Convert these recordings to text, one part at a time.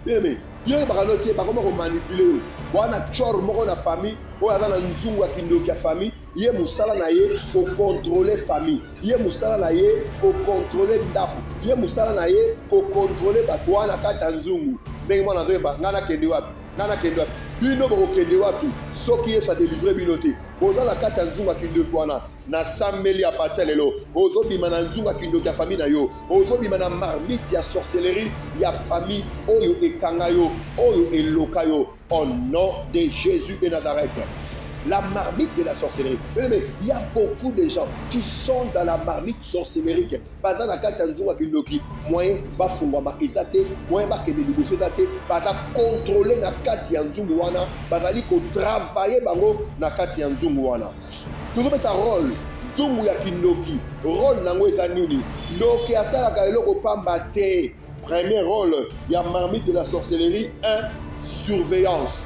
Bien-aimé, yo oyebaka no te bakoma komanipule yo wana chor moko na famille oyo aza na nzungu ya kindoki ya famille ye mosala na ye kokontrole famille ye mosala na ye kokontrole ndako ye mosala na ye kokontrole bato wana kati ya nzungu ndenge mwana azoyeba ngai nakende wapi ngai nakende wapi bino bokokende wapi soki yesu adelivre bino te boza na kati ya nzungu ya kindoki wana nasambeli ya parti ya lelo ozobima na nzunga kindoki ya famille na yo ozobima na marmite ya sorcellerie ya famille oyo ekanga yo oyo eloka yo au nom de jésus de nazareth la marmite de la sorcellerie. Il y a beaucoup de gens qui sont dans la marmite sorcellerie. baza na kati ya nzunga kindoki moyen bafungwama eza te moyen bakende liboso eza te baza kontrole na kati ya nzungu wana bazali kotravaye bango na kati ya nzungu wana tozopesa role nzungu ya kindoki role nango eza nini ndoki asalaka eloko pamba te premier role ya marmite de la sorcellerie 1 surveillance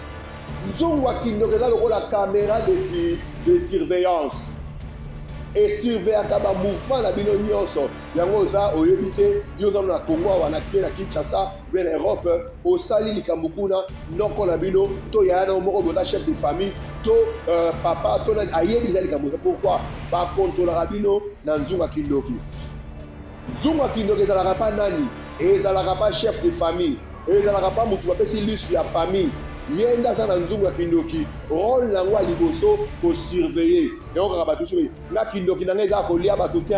nzungu ya kindoki eza lokola camera de, si, de surveillance esurveyaka bamouvement na bino nyonso yango oza oyebi te yo oza na congo awa na kinshasa mpe na europe osali likambo kuna noko na bino to yaya na yo moko boza chef de famille to euh, papa to nani ayebi eza likambo eza pourkui bakontrolaka bino na nzunga kindoki nzunga kindoki ezalaka mpa nani ezalaka mpa chef de famille ezalaka mpa motu bapesi lus ya famille ye nde aza na nzungu ya kindoki role na yango ya liboso kosurveille yango kaka bato soki nga kindoki na nga eza kolia bato te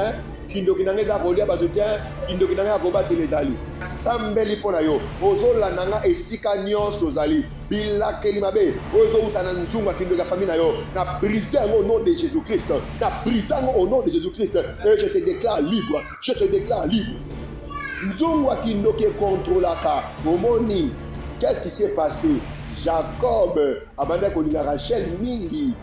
kindoki na nga eza kolia bato te kindoki na nga ya kobatela ezali sambeli mpo na yo ozolanda nga esika nyonso ozali bilakeli mabe oyo ezowuta na nzungu ya kindoki ya famille na yo na brise yango au nom de jésus christ na brise yango au nom de jésus christ et je te déclare libre je te déclare libre nzungu ya kindoki ekontrolaka omoni qu'est ce qui s'est passé jacob abandaki kolinga rachel mingi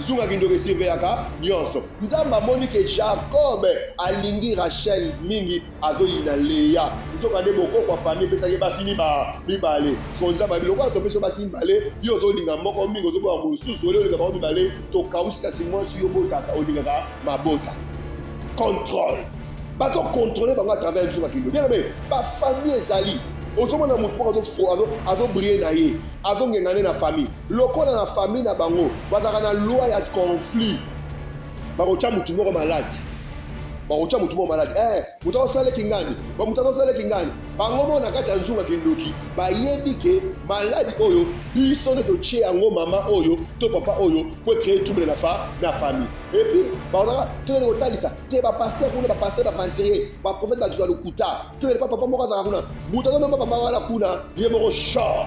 Zunga kindoki esurveillaka nyonso. Nzambe amoni ke Jacob alingi Rachel mingi, azoyina Lea. Nzokande bokoko ya famille epesaki ye basi mibale. Sikoyo Nzambe alobi lokola topesi yo basi mibale, yo ozolinga moko mingi, ozoboya mosusu, olie olinga bango mibale, tokausi. Kasi mwasi yo obotaka, olingaka mabota. Controle. Bazokontrole bango à travers nzunga kindoki. Bien aime, bafamille ezali. Ozomona motu moko azobrille na ye, azongengane na famille. Lokola na famille na bango bazalaka na loi ya conflit, bakotya motu moko maladi bakotya motu moko maladi eh, motu akosala kingani bamotu akosala kingani bango moko na kati ya nzunga kindoki bayebi ke maladi oyo biso nde totye yango mama oyo to papa oyo mpo ecree trouble na fa na famille epuis baonaka toyende kotalisa te bapaster kuna bapaster baventurier baprofete bato ya lokuta toyende pa papa moko azalaka kuna motu akomema papa wana kuna ye moko shor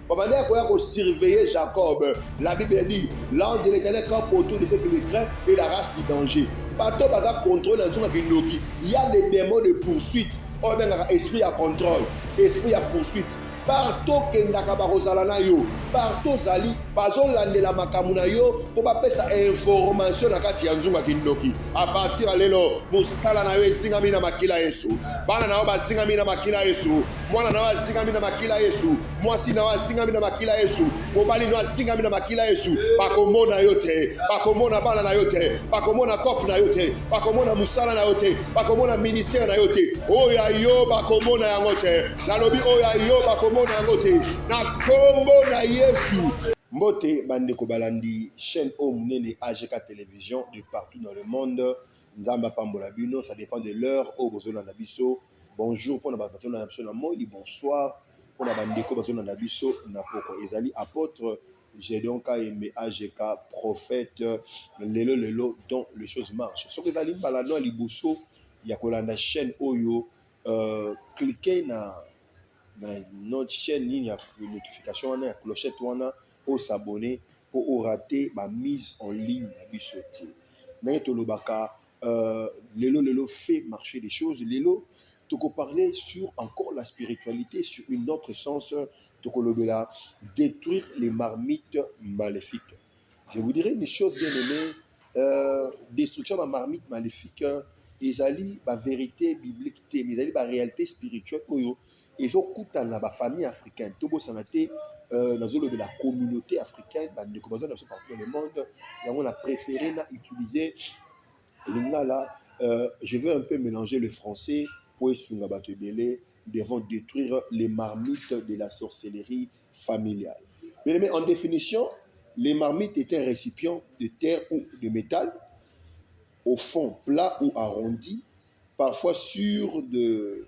babandaki koya kosurveiller jacob la bible a dit l'ange de l'éternel camp autour de ceux qui le craint et la race du danger bato baza contrôle na nzonga kindoki ya des démons de poursuite oyo abengaka esprit ya contrôle esprit ya poursuite partout okendaka bakozala na yo partout ozali bazolandela makambo na yo mpo bapesa informatio na kati ya nzunga kindoki apartir ya lelo mosala na yo ezingami na makila yesu bana na yo bazingami na makila yesu mwana na yo azingami na makila yesu mwasi na yo azingami na makila yesu mobali na yo azingami na makila yesu bakomona yo te bakomona bana na yo te bakomona kope na yo te bakomona mosala na yo te bakomona ministere na yo te oyo ya yo bakomona yango te nalobi oyo ya yo bakomona yango te na nkombo na yesu mbote bandeko balandi chaîne oyo monene agk télévision de partout dans le monde nzambe apambola bino ça dépend de l'heure oyo bozolanda biso Bonjour pona ba bato na biso na moi bonsoir pona ba ndeko bato na biso na pokwa ezali apotre Gedeon Kayembe AGK prophète lelo lelo dont les choses marchent soki ezali mbala no liboso ya kolanda chaîne oyo euh, cliquez na na notre chaîne nini ya notification wana ya clochette wana o s'abonner mpo o rater ba mise en ligne na biso te ndenge tolobaka Euh, lelo lelo fait marcher des choses lelo toko parler sur encore la spiritualité sur une autre sens tokolobela détruire les marmites maléfiques je vous dirais une chose bien aimée euh, destruction ya marmite maléfique ezali ba vérité biblique te mais ezali ba réalité spirituelle oyo ezokutana na ba famille africaine tobosana te euh, nazolobela communauté africaine bandeko baza na biso partout dans le monde yango na préféré na utiliser lingala euh, je veux un peu mélanger le français mpo esunga bato ebele devons détruire les marmites de la sorcellerie familiale bien aimé en définition les marmites est un récipient de terre ou de métal au fond plat ou arrondi parfois sur de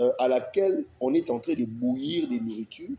euh, à laquelle on est en train de bouillir des nourritures,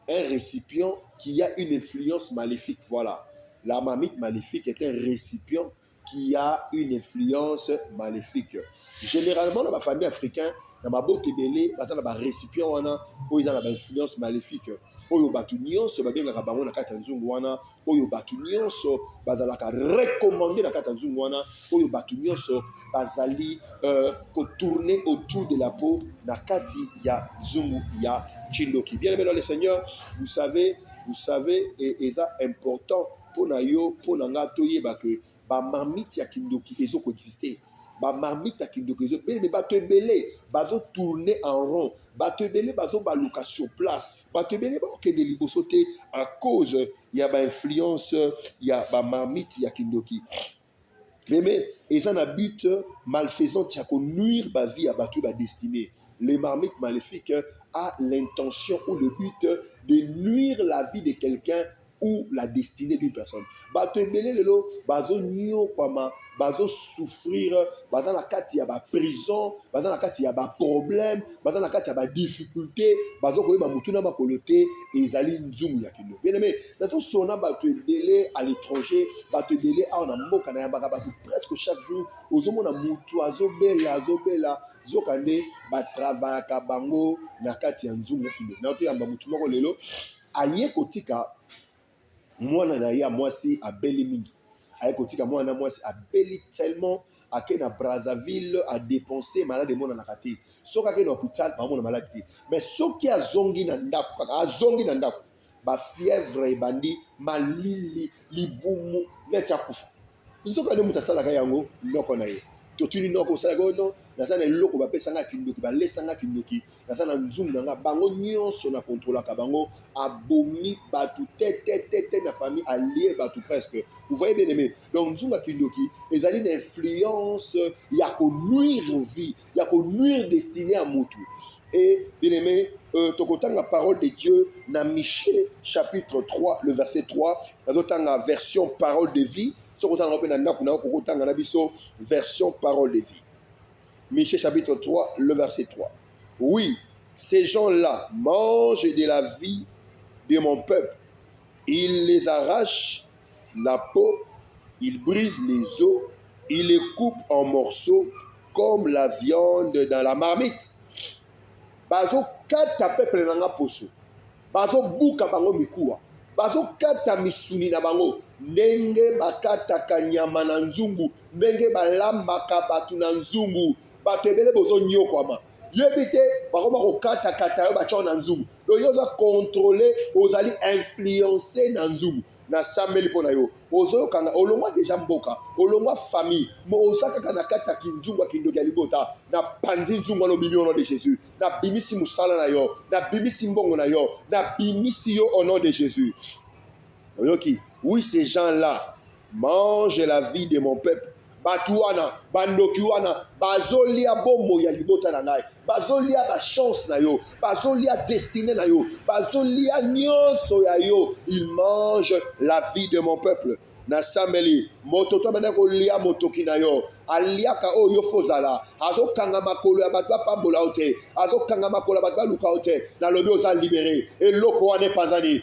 un récipient qui a une influence maléfique. Voilà. La mamite maléfique est un récipient qui a une influence maléfique. Généralement, dans la famille africaine, na mabota ebele baza na barécipient wana oyo eza na bainfluence maléfique oyo bato nyonso babengaka bango na kati ya nzungu wana, oyo bato nyonso bazalaka recommande na kati ya nzungu wana, oyo bato nyonso bazali euh, kotourne autour de la peau na kati ya nzungu ya kindoki. Bien aimé dans le Seigneur, vous savez, vous savez, et eza important mpo na yo mpo na ngai toyeba ke ba marmite ya kindoki ezo ko exister ba marmite ya kindoki ezo bele me bato ebele bazo tourner en rond bato ebele bazo baluka sur place bato ebele bakokende liboso te à cause ya ba influence ya ba marmite ya kindoki meme eza na but malfaisante ya ko nuire ba vie ya bato ba destinée les marmites maléfiques a l'intention ou le but de nuire la vie de quelqu'un ou la destinée d'une personne bato ebele lelo bazonyokwama bazosouffrir baza na kati ya baprison baza na kati ya baproblème baza na kati ya badifficulté bazo koyeba motu na makolo te ezali nzumu ya kilo bien aime na tosona bato ebele à l'étranger bato ebele awa na mboka nayambaka bato presque chaque jour ozomona motu azobela azobela zoka nde batravayaka bango na kati ya nzumu ya kilo na toyamba motu moko lelo aye kotika mwana na ye ya mwasi abeli mingi aye kotika mwana na mwasi abeli tellement ake na brazzaville adepense malade emonanaka te soki ake na hopital baomona malade te mais soki azongi na ndako kaka azongi na ndako bafièvre ebandi malili libumu neti akufa nzoka nde moto asalaka yango noko na ye totuni noko osalaka oyo non naza na eloko bapesanga kindoki balesanga kindoki naza na nzumu na nga bango nyonso na kontrolaka bango abomi bato tetetetete na famille alie bato presque vous voyez bien aimé donc nzunga kindoki ezali na influence ya konuire vie ya ko nuire destine ya mutu et bien aimé euh, tokotanga parole de dieu na michie chapitre 3 le verset 3 nazotanga version parole de vie soki otanga mpe na ndako na yo kokotanga na biso version parole de vie michie chapitre 3 le verset 3 oui ces gens là mangent de la vie de mon peuple ils les arrachent la peau, il brise les os, il les coupe en morceaux comme la viande dans la marmite. Bazokata peuple na nga poso, bazobuka bango mikuwa, bazokata misuni na bango ndenge bakataka nyama na nzungu, ndenge balambaka bato na nzungu. Bato ebele bozonyokwama, yebi te bakoma kokatakata yo batya na nzungu. donc yo oza contrôle ozali influence na nzubu nasambeli mpo na yo ozoyokanga olongwa deja mboka olongwa famille mo oza kaka na kati ya kinzungu ya kindoki ya libota napanzi nzungu wana obimi au nom de jésus nabimisi mosala na yo nabimisi mbongo na yo nabimisi yo au nom de jésus oyoki oui ces gens là mange la vie de mon peuple bato wana bandoki wana bazolia bomoi ya libota na ngai bazolia bachance na yo bazolia destine na yo bazolia nyonso ya yo il mange la vie de mon peuple nasambeli moto to abanda kolia motoki na yo aliaka oyo yo fozala azokanga makolo ya bato bapambola yo te azokanga makolo ya bato baluka yo te nalobi oza libere eloko wana epanzani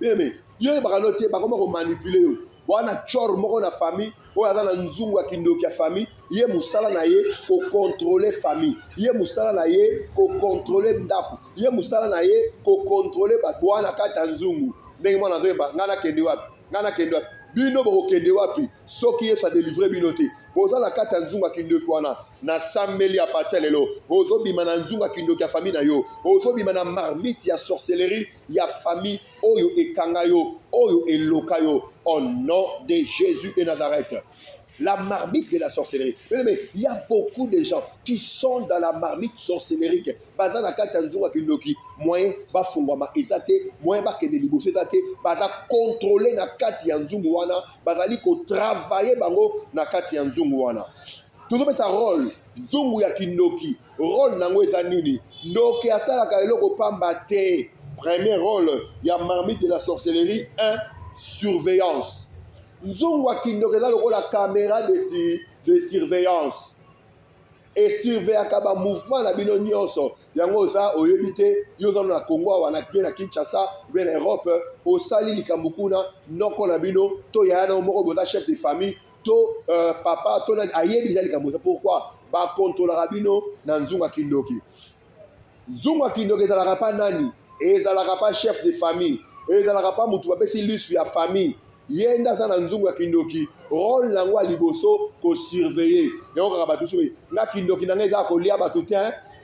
bien mais yo oyebaka no te bakoma komanipule yo wana chor moko na famille oyo aza na nzungu ya kindoki ya famille ye mosala na ye kokontrole famille ye mosala na ye kokontrole ndako ye mosala na ye kokontrole bato wana kati ya nzungu ndenge mwana azoyeba ngai nakende wapi ngai nakende wapi bino bokokende wapi soki yesu adelivre bino te boza na kati ya nzungu ya kindoki wana nasambeli ya pati ya lelo ozobima na nzungu ya kindoki ya famille na yo ozobima na marmite ya sorcellerie ya famille oyo ekanga yo oyo eloka yo au nom de Jésus de Nazareth la marmite de la sorcellerie. Mais il y a beaucoup de gens qui sont dans la marmite sorcellerie. Baza na kati ya nzungu ya kindoki moyen bafungwama eza te moyen bakende liboso eza te baza contrôle na kati ya nzungu wana bazali kotravaille bango na kati ya nzungu wana tozopesa role nzungu ya kindoki Role na yango eza nini? Ndoki asalaka eloko pamba te. Premier role ya marmite de la sorcellerie 1 surveillance. Nzungu ya kindoki eza lokola camera de, si, de surveillance esurveyaka bamouvement na bino nyonso yango oza oyebi te yo oza na congo awa na bie na kinshasa bie na europe osali likambo kuna noko na bino to yaya na yo moko boza chef de famille to euh, papa to nani ayebi eza likambo eza pourquoi bakontrolaka bino na nzunga kindoki nzunga kindoki ezalaka pa nani ezalaka pa chef de famille ezalaka pa motu bapesi lustre ya famille ye nde aza na nzungu ya kindoki role na yango ya liboso kosurveille yango kaka bato soki nga kindoki na ngai eza kolia bato te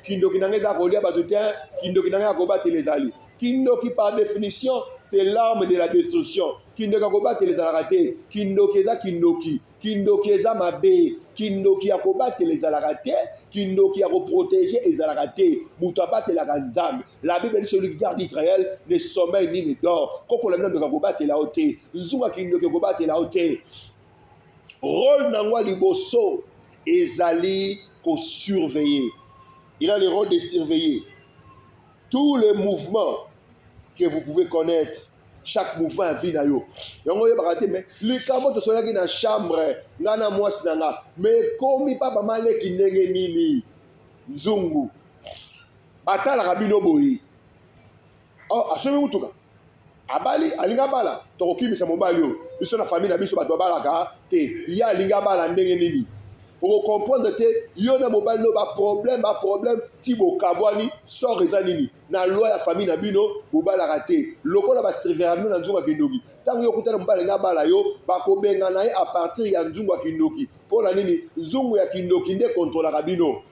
kindoki na ngai eza kolia bato te kindoki na ngai ya kobatela ezali kindoki par définition c'est l'arme de la destruction kindoki ya kobatela ezalaka te kindoki eza kindoki kindoki eza mabe kindoki ya kobatela ezalaka te kindoki ya koprotege ezalaka te moto abatelaka nzambe la bible dit celui qui garde israel ne sommeil ni ne dort kokola bino ndoki ya kobatela yo te nzunga kindoki ekobatela yo te role na yango ya liboso ezali kosurveiller il a le rôle de surveiller tous les mouvements que vous pouvez connaître chaque mouvement ya vie na yo yango oyebaka te me likambo tosolaki na chambre ngai na mwasi na nga me ekomi papa maleki ndenge nini nzungu batalaka bino boye oh, asomi motuka abali alingi abala tokokimisa mobali oyo biso na famille na biso bato babalaka te ye alingi abala ndenge nini okokomprendre te yo na mobali no baproblème baproblème ti bokabwani sort eza nini na loi ya famille na bino bobalaka te lokola basurveya bino na nzungu ya kindoki ntango yo okutana mobali nga abala yo bakobengana ye a partir ya nzungu ya kindoki mpo na nini nzungu ya kindoki nde kontrolaka bino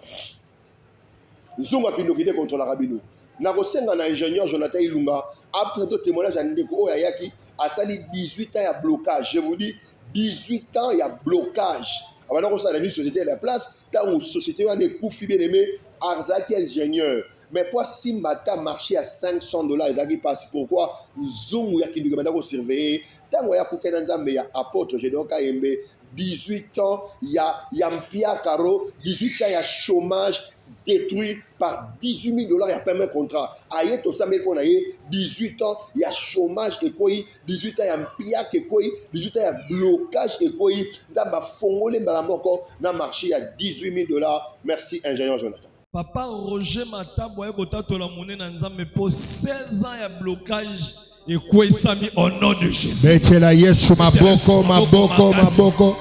nzungu ya kindoki nde kontrolaka bino nakosenga na ingénieur jonathan ilunga apreto témoignage ya ndeko oyo ayaki asali 18 ans ya blocage je vous dis 18 ans ya blocage abanda kosala ni société ya la place ntango société wana ekufi bien aimé azalaki ingénieur mais po asimba ata marché ya 500 dollars ezalaki mpasi pourquoi nzungu ya kinduki banda kosurveille ntango aya kutana nzambe ya apôtre gédon kayembe 18 ans ya, ya mpiakaro 18 ans ya chômage détruit par 18 000 dollars ya paiement contrat aye tosambeli mpo na ye 18 ans ya chômage ekwei 18 ans ya mpiaka ekwei 18 ans ya blocage ekwei nzambe afongoli mbala moko na marché ya 18 000 dollars merci ingénieur jonathan Papa Roger Matabu aye kotatola monene na Nzambe po 16 ans ya blocage ekweyisami au nom de Jésus. Betela Yesu maboko maboko maboko.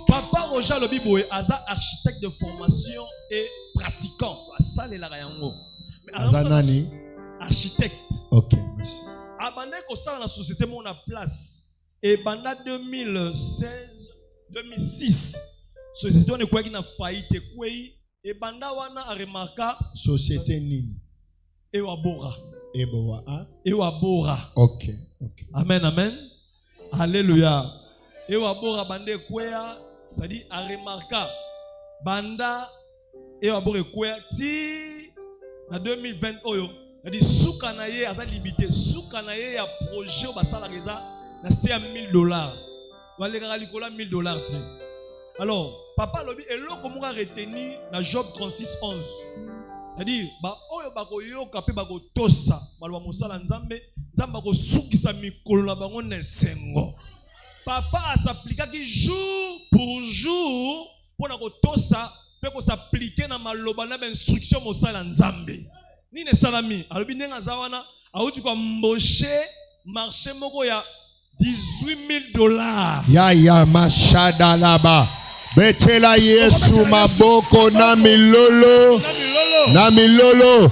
Papa Roger alobi boye aza architecte de formation et pratiquant asalelaka yango. Aza nani? Architecte. OK, merci. Abandaki kosala na société mona place ebanda 2016 2006 société wana ekwaki na faillite ekwei ebanda wana aremarka société nini ewabora eboa a ewabora okay, okay. amen amen alleluya ewabora banda ekwea c'est-à-dire aremarka banda eye maboko ekwea ti na 2020 oyo yadi suka na ye aza limite suka na ye ya projet oyo basalaka eza na se ya 1000 dollars balekaka likolo ya 1000 dollars te alors papa alobi eloko moko areteni na job 36 11 yadi baoyo bakoyoka mpe bakotosa baloba mosala nzambe nzambe akosukisa mikolo na bango na esengo papa asaplikaki jour pour jour mpo na kotosa mpe kosaplike na maloba na bainstruction mosali ya nzambe nini esalami alobi ndenge aza wana auti koamboshe marché moko ya 18000 dollars ya ya mashadalaba betela yesu maboko na milolo na milolo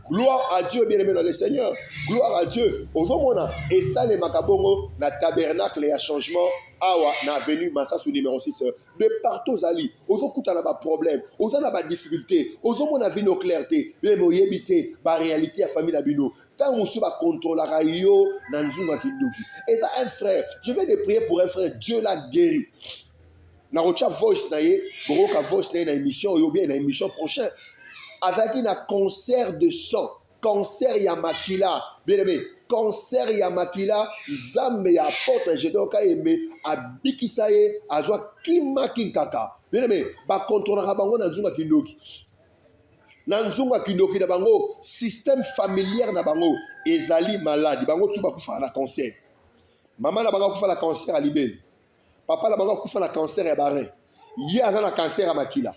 Gloire à Dieu, bien-aimé dans le Seigneur. Gloire à Dieu. Ozomona esalemaka bongo na tabernacle ya changement awa na avenue Masasu numéro 6. De partout ozali, ozokuta na ba problème, oza na ba difficulté, ozomona vie no clair te, bien oyebi te ba réalité ya famille na bino. Tant mosusu ba contrôlaka yo na nzunga kindoki. Et un frère, je vais te prier pour un frère, Dieu l'a guéri. nakotya voice na ye bokoyoka voice na ye na émission oyo bien na émission prochain azalaki na concert de sang concert ya makila bien aimé concert ya makila zambe ya apotre jedon kayembe abikisa ye azwa kima kinkaka bien aimé bakontrolaka bango na nzunga kindoki na nzunga kindoki na bango système familière na bango ezali maladi bango tu bakufaka na concert mama na bango akufa na concert ya libele papa na bango akufa na cancer ya barin ye aza na cancer ya makila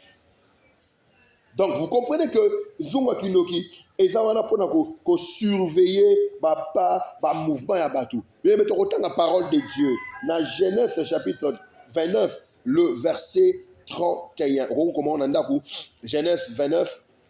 donc vous comprenez que nzungu ya kindoki eza wana mpona kosurveille bapa bamouvement ya bato yebe tokotanga parole de dieu na genèse chapitre 29 le verset 31 okoki komona na ndako genèse 29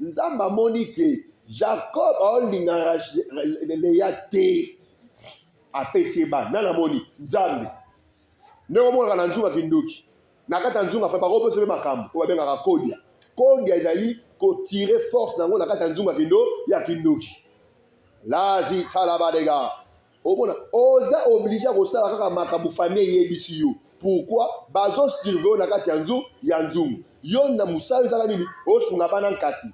nzambe amoni ke jacob aolinga leya te apesi ye bana nani amoni nzambe ndenge omonaka na nzunga kindoki na kati ya nzunga fai bakopesa mpe makambo oyo babengaka kodia kodia ezali kotire force na yango na kati ya nzunga kindo ya kindoki lazi talabadega omona oza oblige kosala kaka makambo famille eyebisi yo pourquoi bazo surveille na kati ya nzu ya nzungu yo na mosala ezaka nini osunga bana nkasi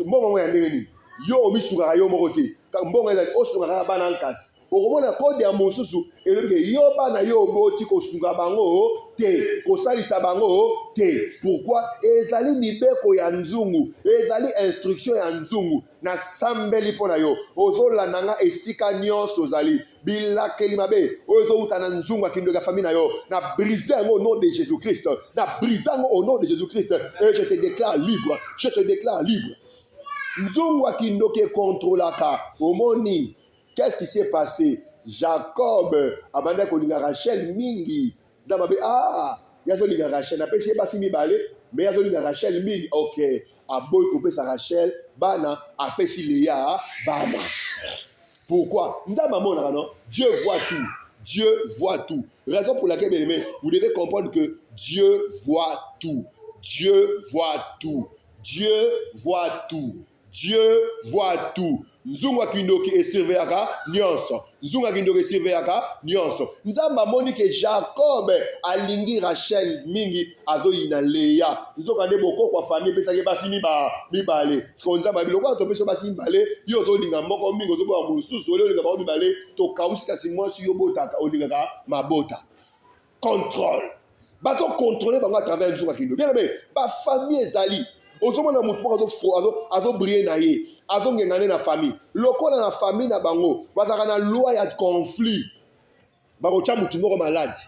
mbongo yango ya ndenge nini yo omisungaka yo moko te mbongo ezali osunga kaka bana nkasi okomona kode ya mosusu elobi ke yo bana yo oboti kosunga bango te kosalisa bango te pourquoi ezali mibeko ya nzungu ezali instruction ya nzungu nasambeli mpo na yo ozolanda nga esika nyonso ozali bilakeli mabe oyo ezowuta na nzungu ya kindoki ya famille na yo na brise yango au nom de jésus christ na brise yango au nom de jésus christ et je te déclare libre je te déclare libre nzungu ya kindoki ekontrolaka omoni qu'est ce qui s'est passé jacob abandaki kolinga rachel mingi Za mabe ah ye azolinga Rachel napesi ye basi mibale me ye azolinga Rachel mingi ok aboyi kopesa Rachel bana apesi Lea bana pourquoi nzambe amonaka non Dieu voit tout Dieu voit tout raison pour laquelle bien aimé vous devez comprendre que Dieu voit tout Dieu voit tout Dieu voit tout Dieu voit tout. Nzungu ya kindoki esurveillaka nyonso. Nzungu ya kindoki esurveillaka nyonso. Nzambe amoni ke Jacob alingi Rachel mingi, azoyina Leya. Nzoka nde bokoko ya famille epesaki basi miba mibale. Siko Nzambe abi lokola topesi basi mibale, yo ozolinga moko mingi, ozoboya mosusu, olinga bango mibale, tokausi kasi mwasi yo botaka, olingaka mabota. contrôle bazo contrôler bango à travers nzunga kindo bien aimé ba famille ezali ozomona motu moko azobrille na ye azongenga nde na famille lokola na famille na bango bazalaka na loi ya conflit bakotya motu moko malade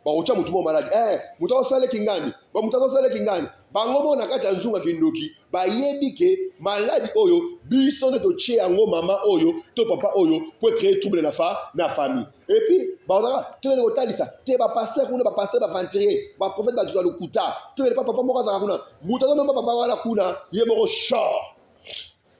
bakotya motu moko malade eh, motu azosaleki ngani bamotu azosaleki ngani bango moko na kati ya nzunga kindoki bayebi ke maladi oyo biso nde totie yango mama oyo to papa oyo po ecree trouble na fa na famille epuis baozaka toyende kotalisa te bapaster kuna bapaster baventurier baprofete bato ya lokuta toyende pa papa moko azalaka kuna moto azomema papa wana kuna ye moko shor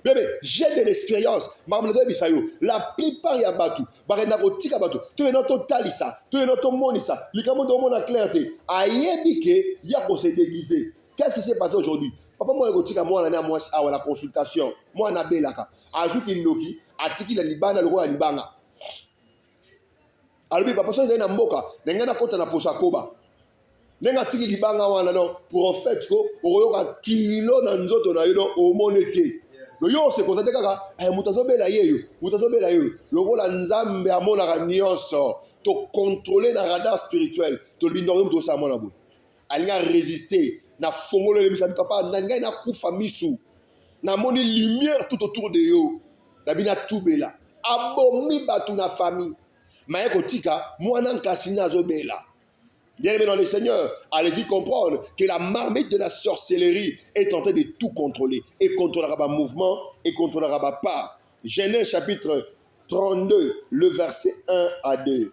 bebe j'ai de l'expérience makambo nazoyebisa yo la plupart ya bato bakenda kotika bato toyena totalisa toyena tomonisa likambo nde omona claire te ayebi ke ya kosedegize Qu'est-ce qui s'est passé aujourd'hui? Papa mwana kotika mwana na mwasi awa na consultation. Mwana abelaka. Azwi kindoki, atiki na libanda lokola libanga. Alobi papa soki ezali na mboka, na ngai nakota na posa koba. Ndenge atiki libanga wana no prophète ko okoyoka kilo na nzoto na yo no omone te. No yo osekoza te kaka eh, moto azobela yeyo, moto azobela yeyo. Lokola Nzambe amonaka nyonso, tokontrole na radar spirituel, tolindaka yo moto osala mwana boye. alingi aresiste na fongolo elebisami papa na ngai nakufa misu namoni lumière tout autour de yo nabi natubela abomi bato na famille maye kotika mwana nkasi nde azobela bien aimé dans le seigneur allez vite comprendre que la marmite de la sorcellerie est en train de tout contrôler et contrôlera ba mouvement et contrôlera ba pas genèse chapitre 32 le verset 1 à 2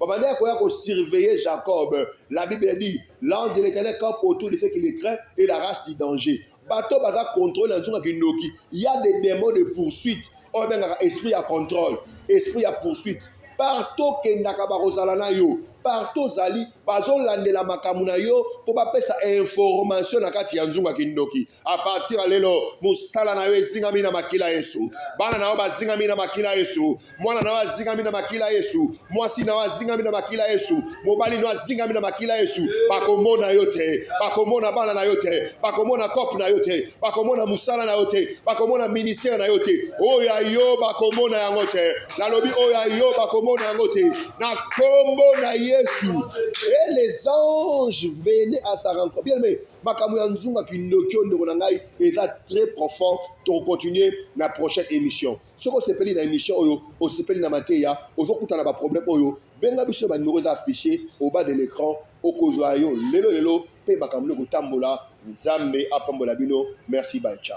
babandaki koya kosurveiller jacob la bible a dit l'ange de l'éternel campe autour de ceux qui le craint et l'arrache du danger bato baza contrôle na nzunga kindoki ya des démons de poursuite oyo abengaka esprit ya contrôle esprit ya poursuite partout okendaka bakozala na yo partout ozali bazolandela makambo na yo mpo bapesa information na kati ya nzunga kindoki a partir ya lelo mosala na yo ezingami na makila yesu bana na yo bazingami na makila yesu mwana na yo azingami na makila yesu mwasi na yo azingami na makila yesu mobali na yo azingami na makila yesu bakomona yo te bakomona bana na yo te bakomona kope na yo te bakomona mosala na yo te bakomona ministere na yo te oyo ya yo bakomona yango te nalobi oyo ya yo bakomona yango te na kombo na yesu et les anges venaient à sa rencontre bien aimé makambo ya nzunga kindoki oyo ndeko na ngai eza très profond tokocontinue na prochaine émission soki osepeli na émission oyo osepeli na mateya ozokuta na baproblème oyo benga biso bandeko eza affiché au bas de l'écran okozwa yo lelo lelo mpe makambo nde kotambola nzambe apambola bino merci bancha